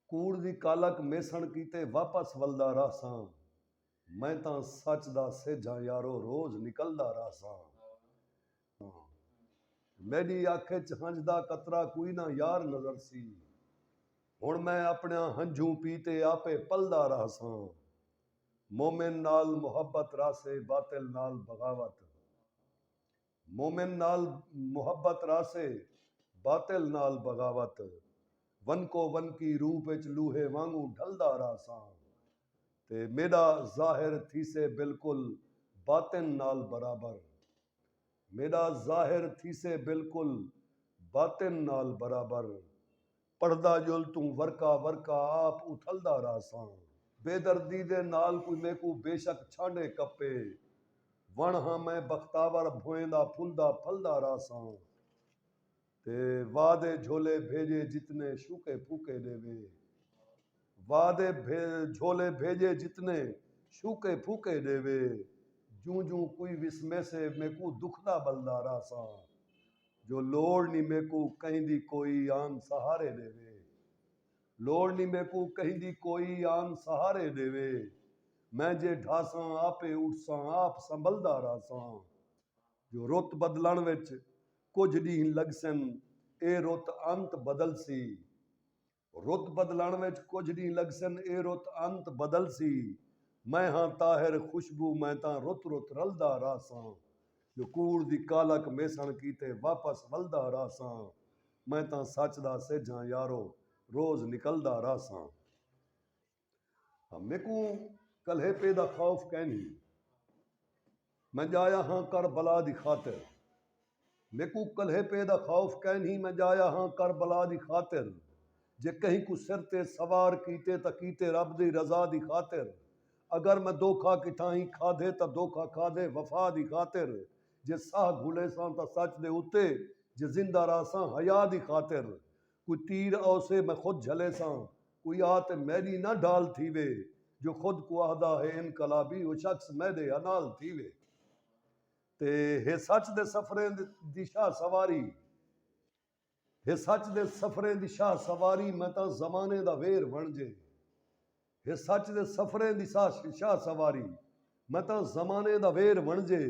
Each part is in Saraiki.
کوڑ دی کالک میسݨ کیتے واپس ولدا رہساں میں تاں سچ دا سجھاں یارو روز نکلدا رہساں میݙی اکھ اچ ہنج دا قطرہ کوئی نہ یار نظر سی ہݨ میں اپݨیاں ہنجھوں پی تے آپے پلدا رہساں مومن نال محبت رہسے باطل نال بغاوت مومن نال محبت رہسے باطل نال بغاوت ونکو ونکی روپ اچ لوہے وانگوں ڈھلدا رہساں تے میڈا ظاہر تھیسے بالکل باطن نال برابر میڈا ظاہر تھیسے بالکل باطن نال برابر۔ پڑھدا ڄل توں ورقہ ورقہ آپ اتھلدا رہساں۔ بے دردی دے نال کوئی میکوں بے شک چھانڈے کپے وݨ ہاں میں بختاور بھوئیندا پھلدا پھلدا رہساں تے وا دے جھولے بھیڄے جتنے شوکے پھوکے ݙیوے وا دے جھولے بھیڄے جتنے شوکے پھوکے ݙیوے جوں جوں کوئی وسمیسے میکوں دکھدا ٻلدا رہساں جو لوڑ نی میکوں کہیں دی کوئی آن سہارے ݙیوے۔ لوڑ نی میکوں کہیں دی کوئی آن سہارے ݙیوے۔ میں جے ڈھاساں آپے اٹھساں آپ سنبھلدا رہساں۔ جو رت بدلݨ وچ کجھ ݙینہہ لڳسن اے رت انت بدلسی۔ رت بدلݨ وچ کجھ ݙینھ لڳسن اے رت انت بدلسی میں ہاں طاہر خوشبو میں تاں رت رت رلدا رہساں جو کوڑ دی کالک میسݨ کیتے واپس ولدا رہساں میں تاں سچ دا سجھ ہاں یارو روز نکلدا رہساں۔ میکوں کلہیپے دا خوف کینھی۔ میں جایا ہاں کربلا دی خاطر۔ میکوں کلہیپے دا خوف کینھی میں جایا ہاں کربلا دی خاطر جے کہیں کوں سر تے سوار کیتے تاں کیتے رب دی رضا دی خاطر اگر میں دھوکا کتھاہیں کھادھے تاں دھوکا کھادھے وفا دی خاطر جے ساہ گھلیساں تاں سچ دے اتے جے زندہ رہساں حیا دی خاطر کوئی تیر آوسے میں خود جھلیساں کوئی آ تے میڈی نہ ڈھال تھیوے جو خود کو آہدا ہے انقلابی او شخص میڈے ہا نال تھیوے تے ہے سچ دے سفریں دی شاہ سواری ہے سچ دے سفریں دی شاہ سواری میں تاں زمانے دا ویر ونجے ہے سچ دے سفریں دی شاہ سواری میں تاں زمانے دا ویر ونجے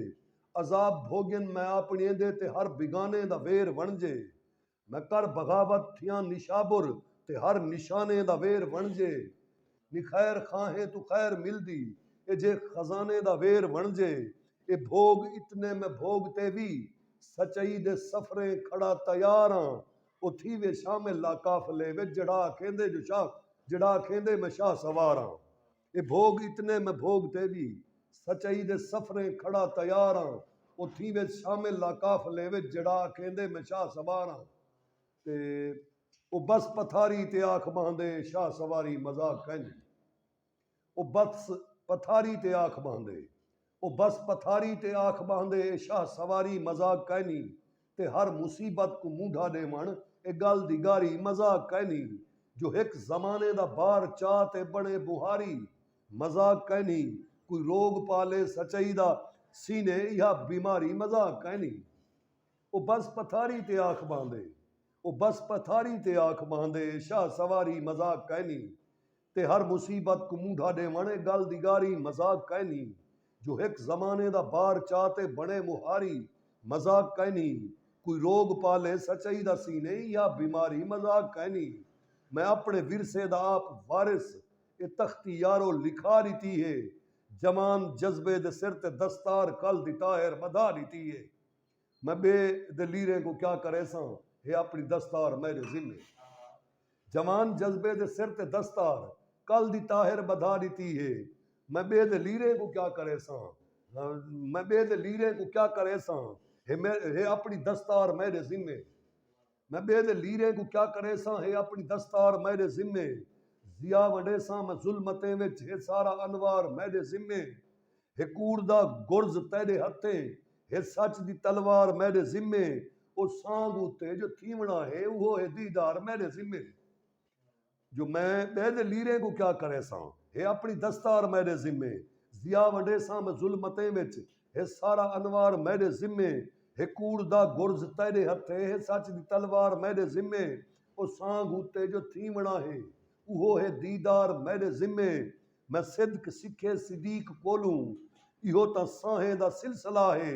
عذاب بھوگن میں اپنی دے تے ہر بگانے دا ویر ونجے نہ کر بغاوت تھیاں نشابر تے ہر نشانے دا ویر وݨجے نی خیر خواہیں توں خیر ملدی اے جے خزانے دا ویر وݨجے اے بھوڳ اتنے میں بھوڳ تے وی سچائی دے سفریں کھڑا تیار آں او تھیوے شامل لاقافلے وچ جیڑھا آکھیندے جو شاہ جیڑھا آکھیندے میں شاہ سوار آں۔ اے بھوڳ اتنے میں بھوڳ تیݙی سچائی دے سفریں کھڑا تیار آں او تھیں وچ شامل لا قافلے وچ جیڑھا آکھیندے میں شاہ سوار آں تے او بس پتھاری تے آکھ ٻہندے شاہ سواری مذاق کائنی او بس پتھاری تے آکھ ٻہندے او بس پتھاری تے آکھ ٻاہندے اے شاہ سواری مذاق کائنی تے ہر مصیبت کوں مونڈھا ݙیوݨ اے ڳل دی ڳاری مذاق کائنی جو ہک زمانے دا بار چا تے بݨے ٻوہاری مذاق کائنی کوئی روڳ پا لے سچائی دا سینے ایہا بیماری مذاق کائنی او بس پتھاری تے آکھ ٻاہندے او بس پتھاری تے آکھ ٻاہندے اے شاہ سواری مذاق کائنی تے ہر مصیبت کوں مونڈھا ڈیوݨ اے گل دی گاری مذاق کائنی جو ہک زمانے دا بار چا تے بݨے مہاری مذاق کائنی کوئی روگ پالے سچائی دا سینے یا بیماری مذاق کائنی میں اپݨے ورثے دا آپ وارث اے تختی یارو لکھا ݙتی اے جوان جذبے دے سر تے دستار کل دی ٹاہر ٻدھا ݙتی اے۔ میں ٻئے دے لیریں کوں کیا کریساں ہے اپݨی دستار میݙے ذمے جوان جذبے دے سر تے دستار کل دی طاہر ٻدھا ݙتی ہے میں ٻئے دے لیریں کوں کیا کریساں میں ٻئے دے لیریں کوں کیا کریساں ہے اپݨی دستار میݙے ذمے۔ میں ٻئے دے لیریں کوں کیا کریساں ہے اپݨی دستار میݙے ذمے ضیاء ونڈیساں میں ظلمتیں وچ ہے سارا انوار میݙے ذمے ہے کوڑ دا گرز تیݙے ہتھیں ہے سچ دی تلوار میݙے ذمے او سانگ اتے جو تھیوݨا ہے اوہو ہے دیدار میݙے ذمے۔ جو میں ٻئے دے لیریں کوں کیا کریساں۔ ہے اپݨی دستار میݙے ذمے ضیا ونڈیساں میں ظلمتیں وچ ہے سارا انوار میݙے ذمے ہے کوڑ دا گرز تیݙے ہتھیں ہے سچ دی تلوار میݙے ذمے او سانگھ اتے جو تھیوݨا ہے اوہو ہے دیدار میݙے ذمے میں صدق سکھے صدیق کولوں ایہو تاں سانہیں دا سلسلہ ہے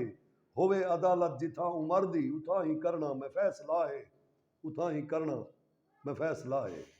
ہووے عدالت جتھاں عمر دی اتھاں ہی کرݨاں میں فیصلہ ہے اتھاں ہی کرݨاں میں فیصلہ ہے۔